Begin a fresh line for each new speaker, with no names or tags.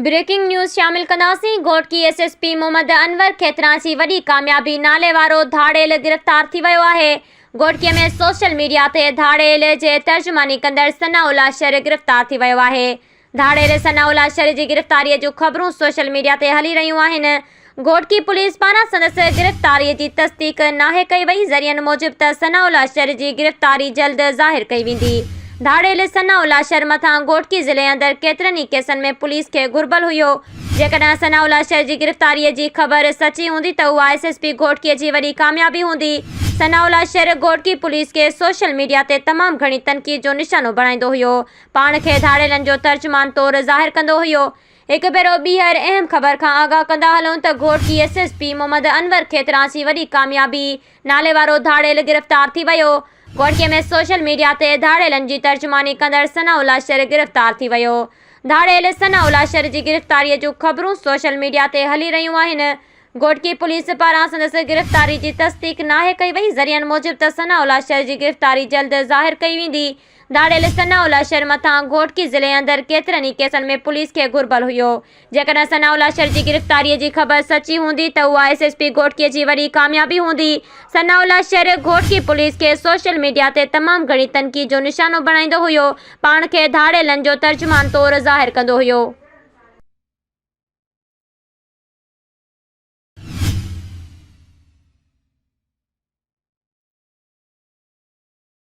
Breaking news شامل ڪنداسين، Ghotki S S P Muhammad Anwar Khetran جي وڏي ڪاميابي نالي وارو ڌاڙيل گرفتار ٿي ويو آهي، گهوٽڪي ۾ سوشل ميڊيا تي ڌاڙيل جي ترجماني ڪندڙ ثناء الله شر گرفتار ٿي ويو آهي، ڌاڙيل ثناء الله شر جي گرفتاري جون خبرون سوشل ميڊيا تي هلي رهيون آهن، گهوٽڪي پوليس پاران سندس گرفتاري جي تصديق ناهي ڪئي وئي، ذريعن موجب ته ثناء الله شر جي گرفتاري جلد ظاهر ڪئي ويندي. ڌاڙيل ثناء الله شر مٿان گهوٽڪي ضلعي اندر ڪيترن ئي ڪيسن ۾ پوليس کي گهربل هيو، جيڪڏهن ثناء الله شر جي گرفتاري جي خبر سچي هوندي ته اها ايس ايس پي گهوٽڪي جي وڏي ڪاميابي هوندي، ثناء الله شر گهوٽڪي پوليس کي سوشل ميڊيا تي تمام گهڻي تنقيد جو نشانو بڻائيندو هيو، پاڻ کي ڌاڙيلن جو ترجمان طور ظاهر ڪندو هيو، هڪ ڀيرو ٻيهر اهم خبر کان آگاهه ڪندا هلون ته Ghotki S S P Muhammad Anwar Khetran سي وڏي ڪاميابي نالي وارو ڌاڙيل گرفتار ٿي ويو. گهوٽڪي ۾ سوشل ميڊيا تي ڌاڙيلن جي ترجماني ڪندڙ ثناء الله شر گرفتار ٿي ويو. ڌاڙيل ثناء الله شر جي گرفتاري جون خبرون سوشل ميڊيا تي هلي رهيون آهن. گهوٽڪي پوليس پاران سندس گرفتاري جي تصديق ناهي ڪئي وئي ذريعن موجب ته ثناء الله شر جي گرفتاري جلد ظاهر ڪئي ويندي ڌاڙيل ثناء الله شر مٿان گهوٽڪي ضلعي اندر ڪيترن ئي ڪيسن ۾ پوليس کي گهربل هيو. جيڪڏهن ثناء الله شر جي گرفتاري جي خبر سچي هوندي ته اها ايس ايس پي گهوٽڪي جي وڏي ڪاميابي هوندي. ثناء الله شر گهوٽڪي پوليس کي سوشل ميڊيا تي تمام گهڻي تنقيد جو نشانو بڻائيندو هيو، پاڻ کي ڌاڙيلن جو ترجمان طور ظاهر ڪندو هيو.